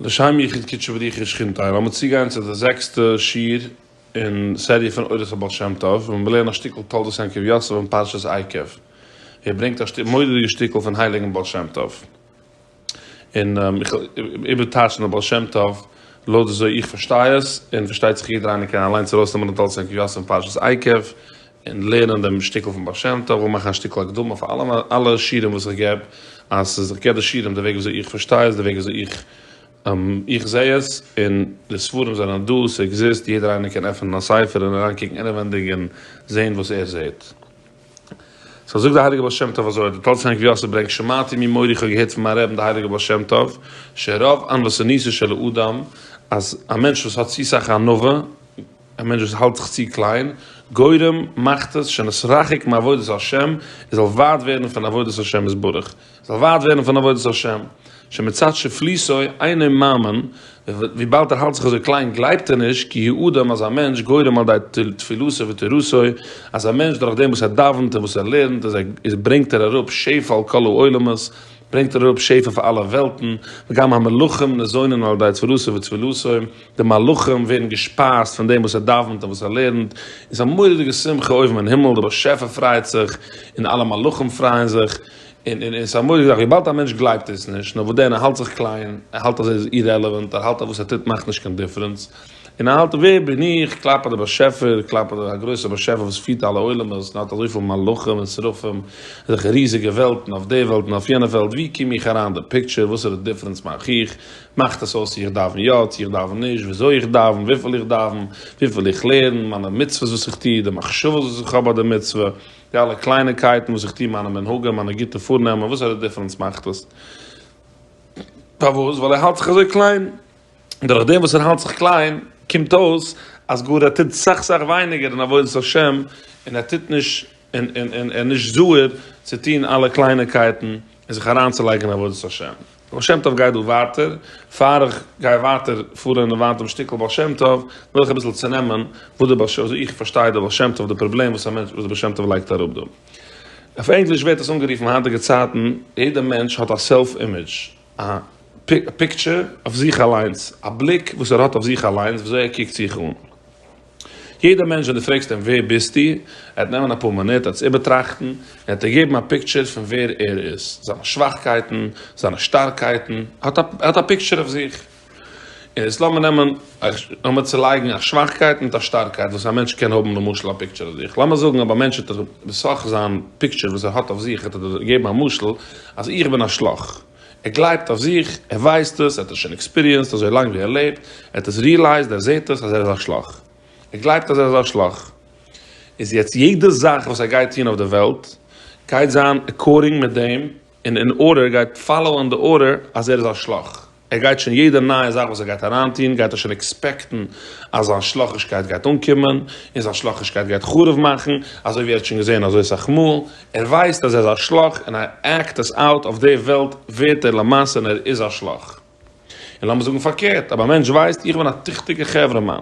לשם יחוד קודשא בריחא שכינתא לאמיר צוגיין צו די זעקסטע שיעור אין סעריע פון אורות הבעל שם טוב וואו מיר לערנען א שטיקל תולדות יעקב יוסף אין פרשת עקב ווי ער ברענגט א מורא'דיגע שטיקל פון הייליגן בעל שם טוב און איך וועל איבערטייטשן די בעל שם טוב לויט וויאזוי איך פארשטיי עס און פארשטייט זיך יעדער איינער קען אליינס ארויסנעמען די תולדות יעקב יוסף אין פרשת עקב און לערנען דעם שטיקל פון בעל שם טוב, און מאכן א שטיקל הקדמה פאר אלע אלע שיעורים וואס איך געב, אז ס'איז איך געב די שיעורים די וועג וויאזוי איך פארשטיי עס, די וועג וויאזוי איך איך זע עס, און די ספרים זענען דא, ס'עקזיסט, יעדער איינער קען עפענען א ספר און אריינקוקן אינעווענדיג און זען וואס ער זעט. סא זאגט די הייליגע בעל שם טוב אזוי, די טל צאנז רבי יוסף ברענגט שמעתי ממורי איך האב געהערט פון מיין רעבן די הייליגע בעל שם טוב, שרוב ענוות הניסו של האדם, אז א מענטש וואס האט צו סאך ענווה, א מענטש וואס האלט זיך צו קליין, גורם, מאכט עס שנית רחוק מעבודת השם, ער זאל ווייט ווערן פון עבודת השם יתברך, ער זאל ווייט ווערן פון עבודת השם, שמצד שפליסו אינו מאמין, וויבאלד ער האלט זיך אזוי קליין גלייבט ער נישט, כי הוא אדם אז א מענטש גורם על ידי תפילתו ותורתו, אז א מענטש דורכדעם וואס ער דאווענט און וואס ער לערנט איז ברענגט ער אראפ שפע על כל העולמות, ברענגט ער אראפ שפע פאר אלע וועלטן, וגם המלאכים נזונין על ידי תפילתו ותפילתו, די מלאכים ווערן געשפייזט פון דעם וואס ער דאווענט און וואס ער לערנט, און ס'איז א מורא'דיגע שמחה אויבן אין הימל, דער באשעפער פרייט זיך, און אלע מלאכים פרייען זיך, און און און ס'איז א מורא'דיגע זאך, וויבאלד א מענטש גלייבט עס נישט, נו וואס דען, ער האלט זיך קליין, ער האלט אז ער איז אירעלעווענט, ער האלט אז וואס ער טוט מאכט נישט קיין דיפרענס, און ער האלט ווער בין איך, כלפי דער באשעפער, כלפי דער א גרויסער באשעפער וואס פירט אלע עולמות, און האט אזויפיל מלאכים און שרפים, אזעלכע ריזיגע וועלטן, אויף די וועלט און אויף יענע וועלט, וואו קום איך אריין אין די פיקטשער, וואסערע דיפרענס מאך איך, מאכט עס אויס צו איך דאווען יא צו איך דאווען נישט, וויאזוי איך דאווען, וויפיל איך דאווען, וויפיל איך לערן, מיינע מצוות וואס איך טוה, די מחשבות וואס איך האב ביי די מצוה, די אלע קלייניקייטן וואס איך טוה, מיינע מנהגים, מיינע גוטע פארנעמען, וואסערע דיפרענס מאכט עס? פארוואס? ווייל ער האלט זיך אזוי קליין. דורך דעם וואס ער האלט זיך קליין, קומט אויס אז גאר ער טוט סאך סאך ווייניגער אין עבודת השם, און ער טוט נישט, און ער איז נישט זוכה צו טוהן אלע קלייניקייטן, און זיך אריינצולייגען אין עבודת השם. בעל שם טוב גייט דא ווייטער, פאר איך גיי ווייטער פארען און וויין דעם שטיקעל בעל שם טוב, וויל איך אביסעל צונעמען וואס די בעל שם, וויאזוי איך פארשטיי די בעל שם טוב, די פראבלעם וואס א מענטש, וואס די בעל שם טוב לייגט אראפ דא. אויף ענגליש ווערט עס אנגערופען אין היינטיגע צייטען, יעדער מענטש האט א סעלף אימעדזש, א פיקטשער אויף זיך אליינס, א בליק וואס ער האט אויף זיך אליינס, וויאזוי ער קוקט זיך אן. יעדע מענטש ווען דו פרעגסט אים ווער ביסטו, ער וועט נעמען אפאר מינוט און עס איבערטראכטן, און וועט דיר געבן א פיקטשער פון ווער ער איז, זיינע שוואכקייטן, זיינע שטארקייטן, ער האט א פיקטשער אויף זיך. און יעצט לאמיר נעמען, לאמיר צולייגן א שוואכקייט מיט א שטארקייט וואס א מענטש קען האבן למשל א פיקטשער אויף זיך, לאמיר זאגן אויב א מענטש וועט דיך בסך זיין פיקטשער וואס ער האט אויף זיך וועט ער דיר געבן א משל אז איך בין א שלאך, ער גלייבט אויף זיך, ער ווייסט עס, ער האט עס שוין עקספיריענסד אזוי לאנג ווי ער לעבט, ער האט עס ריעלייזד, ער זעהט עס אז ער איז א שלאך. ער גלייבט אז ער איז א שלאך. איז יעצט יעדע זאך וואס ער גייט טוהן אויף די וועלט גייט זיין עקארדינג מיט דעם און אין ארדער, ער גייט פאלאוען די ארדער אז ער איז א שלאך. ער גייט שוין יעדע נייע זאך וואס ער גייט אריינטוהן גייט ער שוין עקספעקטן אז זיין שלאכישקייט גייט אנקומען און זיין שלאכישקייט גייט חרוב מאכן, אזוי ווי ער האט שוין געזעהן אזוי סאך מאל, ער ווייסט אז ער איז א שלאך און ער עקט עס אוט, אויף די וועלט ווערט ער למעשה און ער איז א שלאך. און לאמיר זאגן פארקערט, אויב א מענטש ווייסט איך בין א טיכטיגע חברה מאן,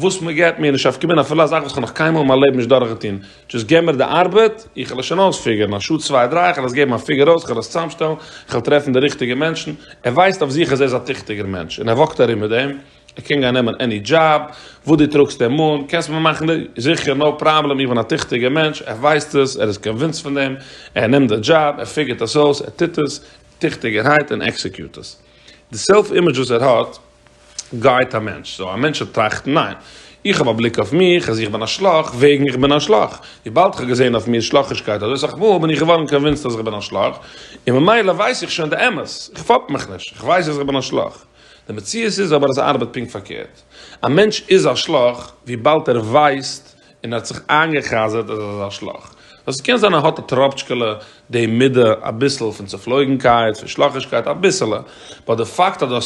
וואס מען געט מיר נישט אויף קומען אפילו א זאך וואס כ'האב נאך קיינמאל אין מיין לעבן נישט דורכגעטון, דזשאסט געב מיר די ארבעט, איך וועל עס שוין אויספיגערן, א שעה צוויי דריי, כ'וועל עס געבן א פיגער אויס, כ'וועל עס צוזאמשטעלן, כ'וועל טרעפן די ריכטיגע מענטשן, ער ווייסט אויף זיך אז ער איז א טיכטיגער מענטש און ער וואקט ארום מיט דעם. ער קען גיין נעמען עני דזשאב וואס דו טראגסט אים אן, קענסט מיר מאכן די, זיכער נאו פראבלעם, איך בין א טיכטיגער מענטש, ער ווייסט עס, ער איז קאנווינסט פון דעם, ער נעמט די דזשאב, ער פיגערט עס אויס, ער טוט עס, טיכטיגערהייט און עקסעקיוט עס. די סעלף אימעדזש וואס ער האט גייט א מענטש, סאו א מענטש וועט טראכטן ניין, איך האב א בליק אויף מיך אז איך בין א שלאך וועגן איך בין א שלאך, וויבאלד איך האב געזען אויף מיר שלאכישקייט אזוי סאך מאל בין איך געווארן קאנווינסט אז איך בין א שלאך, און ממילא ווייס איך שוין די אמת, איך פאפ מיך נישט, איך ווייס אז איך בין א שלאך. די מציאות איז אבער אז עס ארבעט פונקט פארקערט. א מענטש איז א שלאך וויבאלד ער ווייסט און ער האט זיך איינגע'חזר'ט אז ער איז א שלאך. סאו ס'קען זיין ער האט א טראפטשקעלע די מידה אביסל פון צופלויגנקייט, פון שלאכישקייט, אביסעלע. באט די פאקט אז דו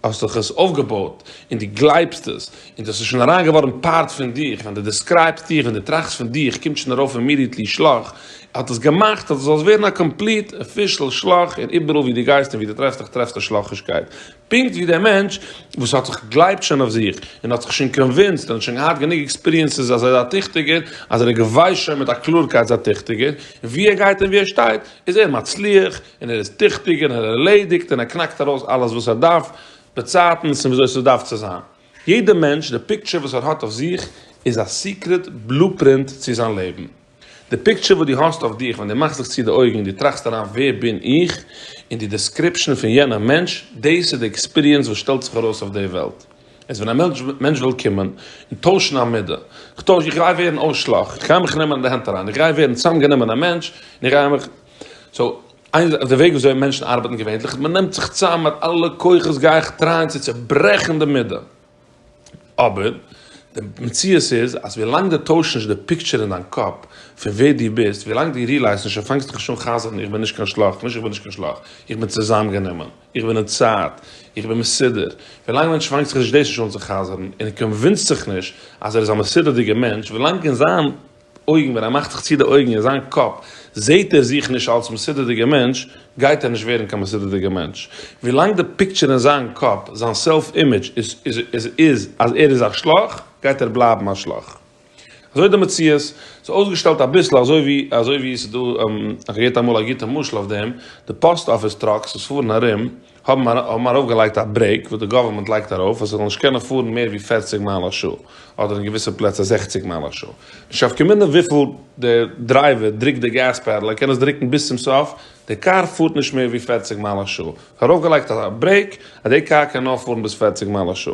האסט דיך עס אויפגעבויט און דו גלייבסט עס און דאס איז שוין אריין געווארן פארט פון דיך, ווען דו דעסקרייבסט דיך, ווען דו טראכסט פון דיך, קומט שוין ארויף אימידיעטלי שלח, ער האט עס געמאכט אז דו זאלסט ווערן א קאמפליט אפישעל שלח, און איבעראל ווי דו גייסט און ווי דו טרעפסט דיך טרעפסטו שלחישקייט, פונקט ווי דער מענטש וואס האט זיך גלייבט שוין אויף זיך, און האט זיך שוין קאנווינסד, און האט שוין געהאט גענוג עקספיריענסעס אז ער איז א טיכטיגער, אז ער איז געוויסט שוין מיט א קלארקייט אז ער איז א טיכטיגער, און ווי ער גייט און ווי ער שטייט איז ער מצליח, און ער איז טיכטיגער, און ער ערלעדיגט, און ער קנאקט ארויס אלעס וואס ער דארף, די צייטנס און וויאזוי ס'דארף צו זיין. יעדע מענטש, די פיקטשער וואס ער האט אויף זיך איז א סיקרעט בלופרינט צו זיין לעבן. די פיקטשער וואס דו האסט אויף דיך ווען דו מאכסט זיך צו די אויגן און דו טראכסט אריין ווער בין איך און די דעסקריפשאן פון יענער מענטש, דאס איז די עקספיריענס וואס שטעלט זיך ארויס אויף די וועלט. איז ווען א מענטש וויל קומען און טוישן א מידה. כ'טויש, איך גיי ווערן אויסשלאך, כ'גיי מיך נעמען אין די הענט אריין, איך גיי ווערן צאמגענומען א מענטש און איך גיי מיך. סאו. איין זאך איז די וועג וויאזוי מענטשן ארבעטן געווענליך, מען נעמט זיך צאם מיט אלע כוחות גיי איך טרייען צו צוברעכן די מידה, אבער די מציאות איז אז ווילאנג די טוישט נישט די פיקטשער אין דיין קאפ פון ווער דו ביסט, ווילאנג דו ריעלייזט נישט און פאנגסט דיך נישט אן חזר'ן איך בין נישט קיין שלאך, נישט איך בין נישט קיין שלאך, איך בין צוזאמגענומען, איך בין אין צייט, איך בין מסודר, ווילאנג מענטש פאנגט זיך נישט דאס נישט אן צו חזר'ן און ער קאנווינסט זיך נישט אז ער איז א מסודר'דיגער מענטש, ווילאנג אין זיין. אויגן, ווען ער מאכט זיך צו די אויגן אין זיין קאפ זעהט ער זיך נישט אלס מסודר'דיגער מענטש, גייט ער נישט ווערן קיין מסודר'דיגער מענטש. ווילאנג די פיקטשער אין זיין קאפ, זיין סעלף אימעדזש, איז אז ער איז א שלאך, גייט ער בלייבן א שלאך. אזוי די מציאות. ס'איז אויסגעשטעלט אביסל אזוי ווי, אזוי ווי ס'איז דא, איך האב געהערט אמאל א גוטע משל אויף דעם, די פאסט אפיס טראקס וואס פארן ארום, האבן מיר ארויפגעלייגט א ברעיק וואס די גאווערמענט לייגט ארויף אז עס זאל נישט קענען פארן מער ווי פֿערציק מייל א שעה, אדער אין געוויסע פלעצער זעכציק מייל א שעה. נישט אויף קומענדיג וויפיל דער דרייווער דרוקט די געז פעדל, ער קען עס דרוקן ביז צום סוף, די קאר פארט נישט מער ווי פֿערציק מייל א שעה. עס איז ארויפגעלייגט א ברעיק אז די קאר קען נאר פארן ביז פֿערציק מייל א שעה.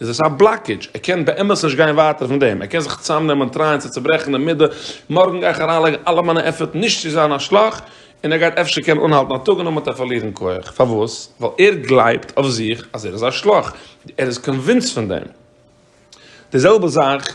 איז עס א בלאקעדזש, ער קען באמת נישט גיין ווייטער פון דעם, ער קען זיך צוזאמנעמען און טרייען צו צוברעכן די מידה, מארגן גיי איך אריינלייגן אלע מיינע עפערט נישט צו זיין א שלאך, און ער גייט אפשר קענען אנהאלטן א טאג און נאכדעם וועט ער פארלירן כח, פארוואס? ווייל ער גלייבט אויף זיך אז ער איז א שלאך, ער איז קאנווינסט פון דעם. די זעלבע זאך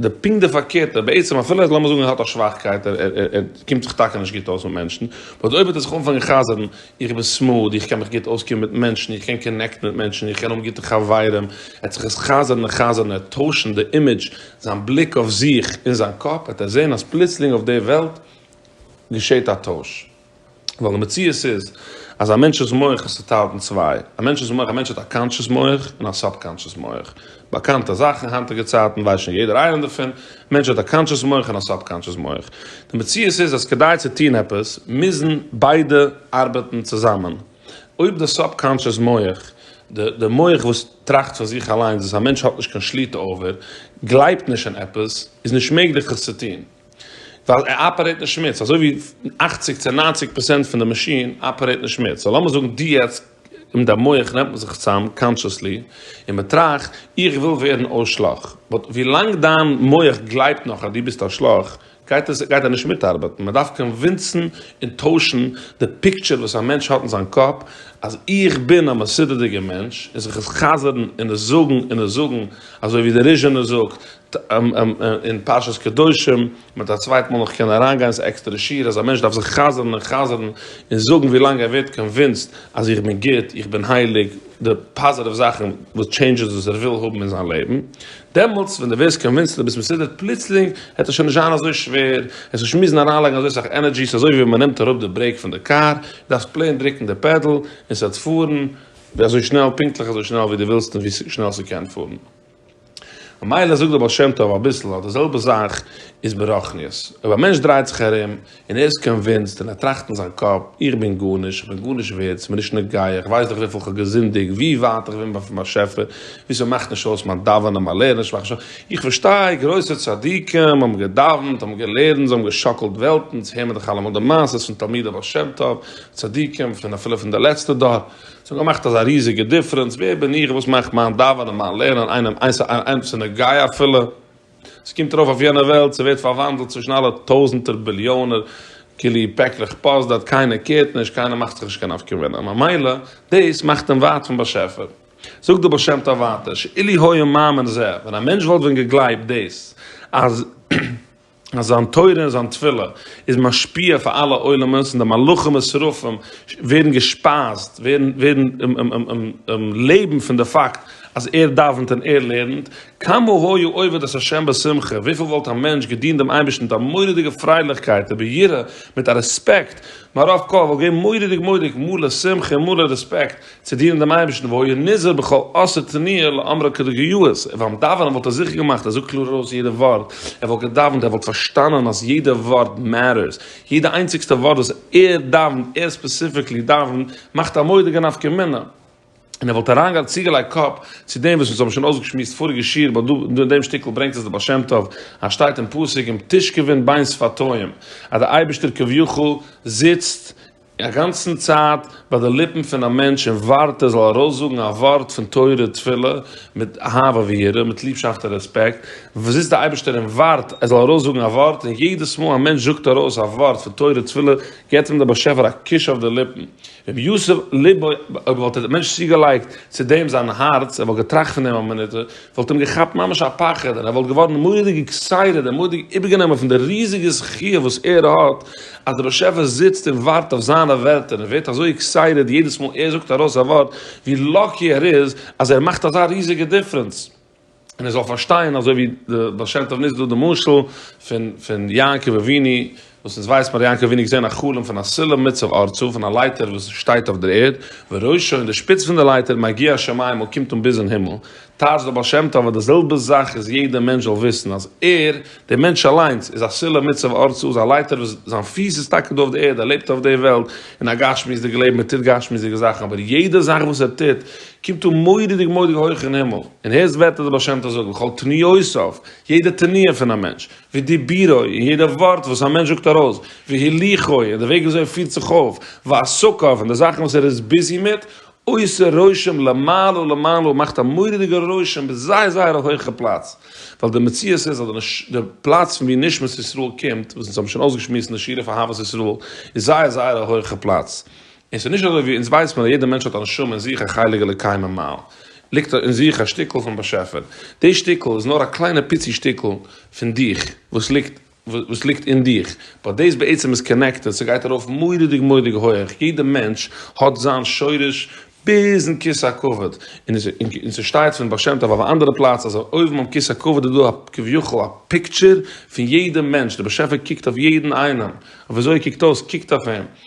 די פונקט די פארקערטע, בעצם אפילו אז לאמיר זאגן ער האט א שוואכקייט, ער קומט זיך טאקע נישט גוט אויס מיט מענטשן, באט אויב וועט ער זיך אנפאנגען חזר'ן, איך בין סמאד, איך קען מיך גוט אויסקומען מיט מענטשן, איך קען קאנעקטן מיט מענטשן, איך קען האבן גוטע חברים, ער וועט זיך עס חזר'ן און חזר'ן, ער וועט טוישן די אימעדזש, זיין בליק אויף זיך, אין זיין קאפ וועט ער זען אז פלוצלינג אויף די וועלט געשעט א טויש. ווייל די מציאות איז אז א מענטש'ס מח איז צוטיילט אין צוויי, א מענטש'ס מח, א מענטש האט א קאנטשעס מח און א סאבקאנטשעס מח, באקאנטע זאך אין היינטיגע צייטן, ווייסט שוין יעדער איינער דערפון, א מענטש האט א קאנטשעס מח און א סאבקאנטשעס מח. די מציאות איז אז כדי צו טון עפעס מוזן ביידע ארבעטן צוזאמען. אויב די סאבקאנטשעס מח, די די מח וואס טראכט פאר זיך אליינס וואס א מענטש האט נישט קיין שליטה אויף, גלייבט נישט אין עפעס, איז נישט מעגליך עס צו טון. ווייל ער אפערעיט אין שמוץ, אזוי ווי אכציג צו ניינציג פראצענט פון די מאשין אפערעיט אין שמוץ, סאו לאמיר זאגן דו יעצט אין דיין מח נעמט מען זיך צוזאם קאנטשעסלי און מען טראכט, איך וויל ווערן א שלאך, באט ווי לאנג דיין מח גלייבט נאך אז דו ביסט א שלאך, גייט עס גייט ער נישט מיטארבעטן, מען דארף קאנווינסן און טוישן די פיקטשער וואס א מענטש האט אין זיין קאפ אז איך בין א מסודר'דיגער מענטש און זיך עס חזר'ן און עס זאגן און עס זאגן אזוי ווי די ריזשענער זאגט. אין פרשת קדושים, מען האט א צווייט מאל נאך קענען אריין גיין, ס'איז עקסטערע שיעור אז א מענטש דארף זיך חזר'ן און חזר'ן און זאגן ווי לאנג ער ווערט קאנווינסד אז איך בין גוט, איך בין הייליג, די פאזעטיוו זאכן וואס טשעינדזשעס וואס ער וויל האבן אין זיין לעבן, דעמאלטס ווען דו ווערסט קאנווינסד דו ביסט מסודר פלוצלינג וועט עס שוין נישט זיין אזוי שווער, עס נישט מוזן אריינלייגן אזוי סאך ענערדזשי, ס'איז אזוי ווי מען נעמט אראפ די ברעיק פון די קאר, דו דארפסט פלעין דרוקן די פעדל און ס'וועט פארן אזוי שנעל, פונקטליך אזוי שנעל ווי דו ווילסט און ווי שנעל ס'קען פארן. ממילא זאגט דער בעל שם טוב אביסל אז די זעלבע זאך איז ברוחניות, אויב א מענטש דרייט זיך ארום און ער איז קאנווינסד און ער טראכט אין זיין קאפ, איך בין גארנישט, איך בין גארנישט ווערד, ס'איז מיר נישט נוגע, איך ווייס דאך וויפיל כ'האב געזינדיגט, ווי ווייט איך בין פון באשעפער, ווי ס'מאכט נישט אויס מיין דאווענען, מיין לערנען, שמאכט נישט אויס, איך פארשטיי, גרויסע צדיקים האבן געדאווענט, האבן געלערנט, זיי האבן געשאקלט וועלטן, אונז הער מיר דאך אלעמאל די מעשות פון תלמידי בעל שם טוב, צדיקים, פון אפילו פון די לעצטע דור. ס'האט געמאכט אזא ריזיגע דיפרענס, ווער בין איך וואס מאכט מיין דאווענען, מיין לערנען, איינעם איינס א איינעם צו נגיעה אפילו, ס'קומט ארויף אויף יענע וועלט, ס'ווערט פארוואנדלט צווישן אלע טויזענטער ביליאנער כלי פעקלעך פאסט דארט, קיינער קערט נישט, קיינער מאכט זיך נישט קיין נפקא מינה, ממילא דאס מאכט אים ווייט פון באשעפער. זאגט דער בעל שם טוב ווייטער, שאילו היה מאמין זה, ווען א מענטש וואלט ווען געגלייבט דאס אז. אז זיין תורה און זיין תפילה איז משפיע אויף אלע עולמות און די מלאכים און שרפים ווערן געשפייזט, ווערן ווערן לעבן פון די פאקט אז ער דאווענט און ער לערנט, כמה היה עובד את ה' בשמחה, וויפיל וואלט א מענטש געדינט דעם אייבערשטן מיט א מורא'דיגע פרייליכקייט וביראה, מיט א רעספעקט, מהרב קוק וואלט געווען מורא'דיג מורא'דיג מלא שמחה און מלא רעספעקט, צו דינען דעם אייבערשטן, והוי ער נזהר בכל עשה תניאל לאמרה כדגהיות, און ביים דאווענען וואלט ער זיכער געמאכט ער זאגט קלאר ארויס יעדע ווארט, ער וואלט געדאווענט ער וואלט פארשטאנען אז יעדע ווארט מעטערס, יעדע איינציגסטע ווארט וואס ער דאווענט, ער ספעסיפיקלי דאווענט, מאכט א מודיגע נפקא מינה, און ער וואלט אריינגעלייגט צוגעלייגט קאפ צו דעם וואס אונז האבן שוין אויסגעשמועסט פאריגע שיעור ביי דא אין דעם שטיקל ברענגט עס דער בעל שם טוב אז שטייט אין פסוק עם תשכבין בין שפתיים אז דער אייבערשטער כביכול זיצט א גאנצן צייט ביי די ליפן פון א מענטש און ווארט ער זאל ארויסזאגן א ווארט פון תורה תפילה מיט אהבה ויראה, מיט ליבשאפט און רעספעקט, זיצט די אייבערשטער און ווארט ער זאל ארויסזאגן א ווארט, און יעדעס מאל א מענטש זאגט ארויס א ווארט פון תורה תפילה געבט אים דער באשעפער א קוש אויף די ליפן. רבי יוסף ליב אויב וואלט דער מענטש צוגעלייגט צו דעם זיין הארץ, ער וואלט געטראכט פון דעם א מינוט, וואלט אים געכאפט ממש א פחד און ער וואלט געווארן מורא'דיג עקסייטעד און מורא'דיג איבערגענומען פון די ריזיגע זכי' וואס ער האט אז דער באשעפער זיצט און ווארט אויף זיינע ווערטער און ווערט אזוי עקסייטעד יעדעס מאל ער זאגט ארויס א ווארט ווי לאקי ער איז אז ער מאכט אזא ריזיגע דיפרענס און ער זאל פארשטיין אזוי ווי די בעל שם טוב נוצט דא די משל פון פון יעקב אבינו וואס אונז ווייסט מ'האט יענקל אבינו געזען א חלום פון א סולם מצב ארצו פון א לייטער וואס שטייט אויף דער ערד וראשו און די שפיץ פון די לייטער מגיע השמימה קומט אן ביז אין הימל טייטש דער בעל שם טוב אז די זעלבע זאך איז יעדע מענטש זאל וויסן אז ער דער מענטש אליינס איז א סולם מצב ארצו איז א לייטער וואס זיין פיס איז טאקע דא אויף די ערד ער לעבט אויף די וועלט אין א גשמיות'דיגע לעבן ער טוט גשמיות'דיגע זאכן אבער יעדע זאך וואס ער טוט קומט אן מורא'דיג מורא'דיג הויך אין הימל און הערסט ווערטער דער בעל שם טוב זאגט וכל תניעותיו יעדע תניעה פון א מענטש ודיבורו, און יעדע ווארט וואס א מענטש זאגט ארויס, והליכו, און די וועג ווי אזוי ער פירט זיך אויף, ועסקיו, און די זאכן וואס ער איז ביזי מיט, עושה רושם למעלה ולמעלה, מאכט א מורא'דיגע רושם ביז זייער זייער א הויכע פלאץ, ווייל די מציאות איז אז די פלאץ פון ווי נשמת ישראל קומט, וואס אונז האבן שוין אויסגעשמועסט אין די שיעור אויף אהבת ישראל, איז זייער זייער א הויכע פלאץ, און ס'איז נישט אזוי ווי אונז ווייסט מען אז יעדע מענטש האט א נשמה אין זיך א חלק אלוקי ממעל, ליגט אין זיך א שטיקל פון באשעפער, די שטיקל איז נאר א קליינע פיצי שטיקל פון דיך וואס ליגט וואס ליגט אין דיך, באט דאס בעצם איז קאנעקטעד, ס'גייט ארויף מורא'דיג מורא'דיג הויעך, יעדע מענטש האט זיין שורש ביזן כסא הכבוד, און ס'שטייט פון בעל שם טוב אויף א אנדערע פלאץ אז אויבן אויף כסא הכבוד איז דא א כביכול א פיקטשער פון יעדע מענטש, די באשעפער קוקט אויף יעדן איינעם, אויף וויאזוי ער קוקט אויס קוקט אויף אים,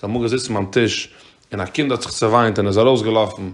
זיי האבן געזיצן ביים טיש און א קינד האט זיך צעוויינט און איז ארויסגעלאפן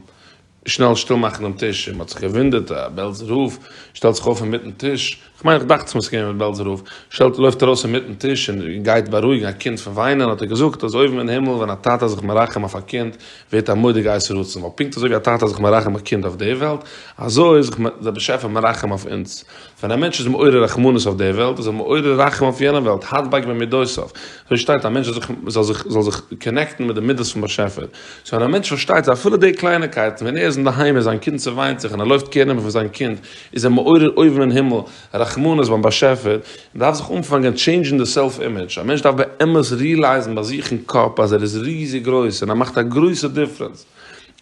שנעל שטיל מאכן דעם טיש און מען האט זיך געוואונדערט א בעלזער רב שטעלט זיך אויף אינמיטן טיש, כ'מיין איך דאכט ס'מוז געווען בעלזער רב, שטעלט לויפט ארויס אינמיטן טיש און גייט בארואיגן א קינד פון וויינען האט ער געזאגט אז אויבן אין הימל ווען א טאטע איז זיך מרחם אויף א קינד ווערט א מודה גייסט רצון ווייל פונקט אזוי ווי א טאטע איז זיך מרחם א קינד אויף די וועלט אזוי איז זיך דער באשעפער מרחם אויף אונז ווען א מענטש איז מעורר רחמנות אויף די וועלט, איז ער מעורר רחם אויף יענע וועלט, הדבק במידותיו. אזוי שטייט, א מענטש זאל זיך זאל זיך קאנעקטן מיט די מידות פון באשעפער. סאו ווען א מענטש פארשטייט זיי, אפילו די קלייניקייטן, ווען ער איז אינדערהיים און זיין קינד צעוויינט זיך און ער לויפט קעיר נעמען פון זיין קינד, איז ער מעורר אויבן אין הימל רחמנות ביים באשעפער. מען דארף זיך אנפאנגען טשעינדזשן די סעלף אימעדזש. א מענטש דארף באמת ריעלייזן ביי זיך אין קאפ אז ער איז ריזיג גרויס און ער מאכט א גרויסע דיפרענס.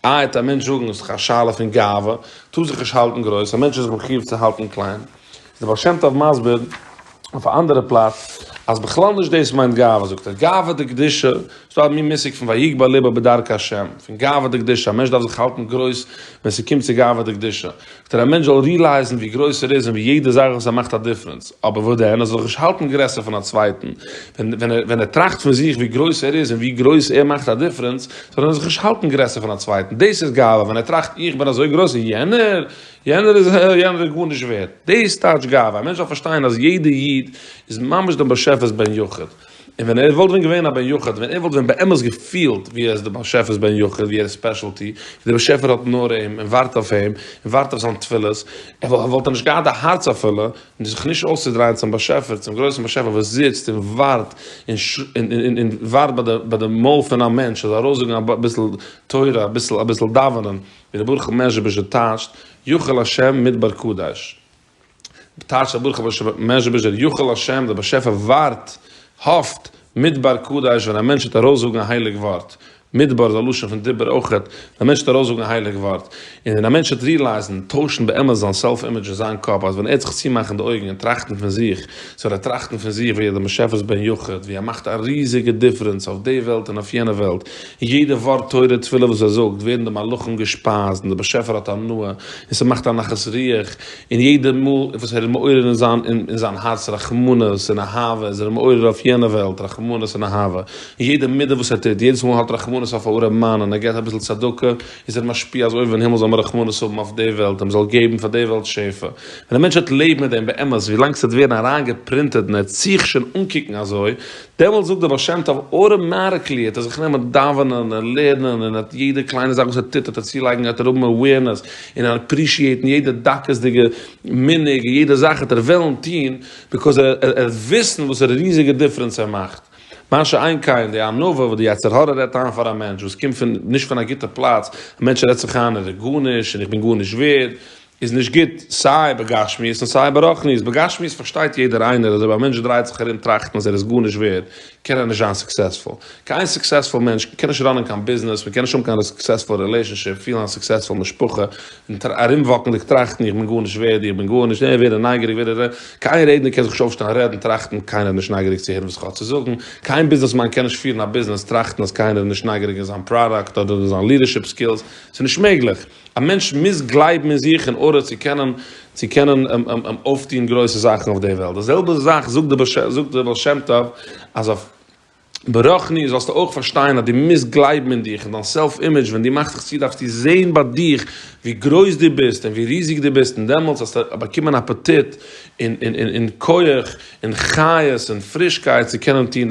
א. העט א מענטש זאגן, עס איז דאך א שאלה פון גאווה, טוה זיך נישט האלטן גרויס, א מענטש איז זיך מחיוב צו האלטן קליין. איז דער בעל שם טוב מסביר אויף א אנדערע פלאץ, אז בכלל נישט דאס מיינט גאווה, זאגט ער, גאווה דקדושה, איז דא א מין מושג פון ויגבה לבו בדרכי השם, פון גאווה דקדושה, א מענטש דארף זיך האלטן גרויס ווען ס'קומט צו גאווה דקדושה. טאר א מענטש זאל רילייזן ווי גרויס ער איז און ווי יעדע זאך וואס ער מאכט א דיפרענס, אבער וואס דען, ער זאל זיך נישט האלטן גרעסער פון א צווייטן, ווען ער טראכט פון זיך ווי גרויס ער איז און ווי גרויס ער מאכט א דיפרענס, זאל ער זיך נישט האלטן גרעסער פון א צווייטן, דאס איז גאווה, ווען ער טראכט איך בין אזוי גרויס און יענער, יענער איז ה ה, יענער איז גארנישט ווערד, דאס טייטש גאווה, א מענטש דארף פארשטיין אז יעדע איד איז ממש דעם באשעפער'ס בן יחיד. און ווען ער וואלט ווען געווען א בן יחיד, ווען ער וואלט ווען באמת געפילט ווי ער איז די באשעפער'ס בן יחיד, ווי ער איז ספעשעלטי, ווי די באשעפער האט נאר אים, און ווארט אויף אים, און ווארט אויף זיין תפילות, וואלט ער נישט געהאט די הארץ אפילו, זיך נישט אויסצודרייען צום באשעפער, צום גרויסן באשעפער וואס זיצט און ווארט, און ווארט ביי די מויל פון א מענטש ער זאל ארויסזאגן אביסל תורה, אביסל דאווענען, ווי ר' ברוך מ'עזשביזשער טייטשט, יחל השם מדבר קדש. בתרצ א ברוך הבא שבט מעז'יבוזש דער יכול השם דער באשעפער ווארט, האפט, מדבר קדש ווען א מענטש וועט ארויסזאגן א הייליג ווארט, מדבר איז א לשון פון דיבור אויכעט, ווען א מענטש וועט ארויסזאגן א הייליג ווארט, און ווען א מענטש וועט ריעלייזן, טוישן באמת זיין סעלף אימעדזש אין זיין קאפ אז ווען ער וועט זיך צומאכן די אויגן און טראכטן פון זיך, סאו וועט ער טראכטן פון זיך ווי ער איז דעם באשעפער'ס בן יחיד, ווי ער מאכט א ריזיגע דיפרענס אויף די וועלט און אויף יענע וועלט, און יעדע ווארט תורה תפילה וואס ער זאגט ווערן די מלאכים געשפייזט און דער באשעפער האט הנאה און ס'מאכט א נחת רוח, און יעדע מאל וואס ער איז מעורר אין זיין אין זיין הארץ רחמנות און אהבה איז ער מעורר אויף יענע וועלט רחמנות און אהבה, און יעדע מידה וואס ער טוט יעדעס מאל האט רחמנות אויף א ארעם מאן און ער געבט אביסל צדקה איז ער משפיע אז אויבן אין הימל זאל מען רחמנות האבן אויף די וועלט און מען זאל געבן פאר די וועלט שפע, ווען א מענטש וועט לעבן מיט דעם באמת ווילאנג ס'וועט ווערן אריינגעפרינטעט און ער וועט זיך שוין אנקוקן אזוי דעמאלטס זאגט דער בעל שם טוב אוטאמאטיקלי האט ער זיך גענומען דאווענען און לערנען און האט יעדע קליינע זאך וואס ער טוט האט ער צולייגן האט ער האבן עווערנעס און עפרישיעטן יעדע דקות'דיגע מנהג און יעדע זאך האט ער וועלן טון ביקאוז ער ער וועט וויסן וואסערע ריזיגע דיפרענס ער מאכט. מה שאין כן די ענווה וואס די יצר הרע רעדט איין פאר א מענטש וואס קומט פון נישט פון א גוטע פלאץ, א מענטש רעדט זיך איין ער איז גארנישט און איך בין גארנישט ווערד, איז נישט גוט סיי בגשמיות און סיי ברחניות, בגשמיות פארשטייט יעדער איינער אז אויב א מענטש דרייט זיך ארום טראכטן אז ער איז גארנישט ווערד קען ער נישט זיין סוקסעספול, קיין סוקסעספול מענטש קען נישט ראנען קיין ביזנעס, מען קען נישט האבן קיין סוקסעספול רילעשאנשיפ, פילן א סוקסעספול משפחה, און ארומוואקנדיג טראכטן איך בין גארנישט ווערד, איך בין גארנישט, און ווערן נייגעריג ווער ער איז, קיין רעדנער קען זיך נישט אויפשטעלן רעדן טראכטן קיינער איז נישט נייגעריג צו הערן וואס איך האב צו זאגן, קיין ביזנעסמאן קען נישט פירן א ביזנעס טראכטן אז קיינער איז נישט נייגעריג אין זיין פראדאקט אדער אין זיין לידערשיפ סקילס, ס'איז נישט מעגליך. א מענטש מוז גלייבן אין זיך אין ארדער צו קענען צו קענען אויפטון גרויסע זאכן אויף די וועלט, די זעלבע זאך זאגט דער בעל שם טוב אז אויף ברוחניות זאלסטו אויך פארשטיין אז דו מוזט גלייבן אין דיך, אין דיין סעלף אימעדזש, ווען דו מאכסט דיך צו דארפסטו זען ביי דיך ווי גרויס דו ביסט און ווי ריזיג דו ביסט און דעמאלטס וועסטו באקומען אפעטיט און כח און חיות און פרישקייט צו קענען טון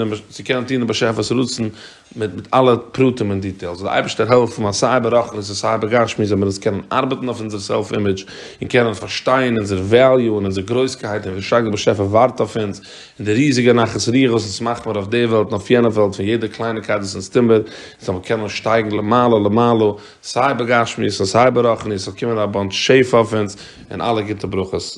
דעם באשעפער'ס רצון. מיט מיט אלע פרטים און דיטעילס, זאל די אייבערשטער העלפן אז סיי ברחנית און סיי בגשמי זאל מיר עס קענען ארבעטן אויף אונזער סעלף אימעדזש און קענען פארשטיין אונזער וועליו און אונזער גרויסקייט און ווי שטארק די באשעפער ווארט אויף אונז און די ריזיגע נחת רוח וואס אונז מאכט מיר אויף די וועלט און אויף יענע וועלט פון יעדע קלייניגקייט וואס אונז טוהן מיר און זאל מיר קענען שטייגן למעלה למעלה סיי בגשמיות און סיי ברחניות זאל קומען א באנטש שפע אויף אונז און אלע גוטע ברכות.